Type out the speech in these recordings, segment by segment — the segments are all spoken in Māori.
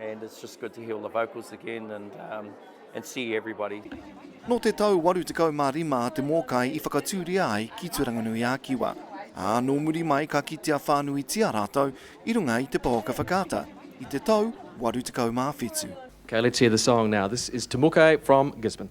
And it's just good to hear all the vocals again and, um, and see everybody. Nō te tau 85 a Te Mōkai i whakatūria ai ki Turanganui-a-Kiwa. Ā, nō muri mai ka kitea whānuitia rātou i runga i te pōka whakaata i te tau 87. Okay, let's hear the song now. This is Te Mōkai from Gisborne.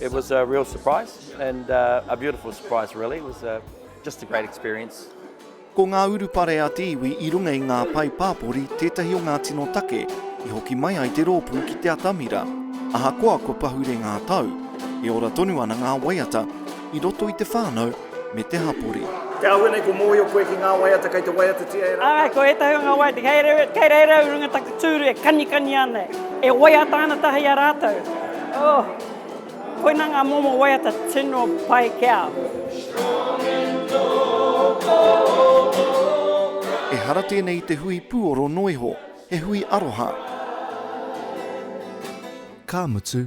It was a real surprise and uh, a beautiful surprise really. It was a, uh, just a great experience. Ko ngā urupare a te iwi i runga i ngā pae pāpori tētahi o ngā tino take i hoki mai ai te rōpū ki te atamira. Ahakoa kua pahure ngā tau, e ora tonu ana ngā waiata i roto i te whānau me te hapori. Te āhua nei kua mōhio koe ki ngā waiata kei te waiatatia e rātou. Āe, ko ētahi o ngā waiata kei reira, kei reira au i runga taku tūru e kanikani ana, e waiata ana tahi i a rātou. Oh, koinā ngā momo waiata tino pai ki a au. Ehara tēnei i te hui puoro noa iho, he hui aroha. Ka mutu,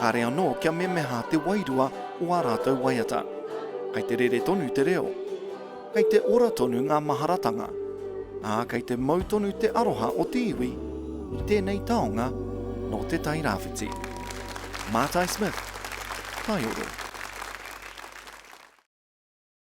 Kāre anō kia memeha te wairua o ā rātou waiata. Kei te rere tonu te reo. Kei te ora tonu ngā maharatanga. Ā, kei te mau tonu te aroha o te iwi i tēnei taonga nō Te Tai Rāwhiti. Mātai Smith, Taioro.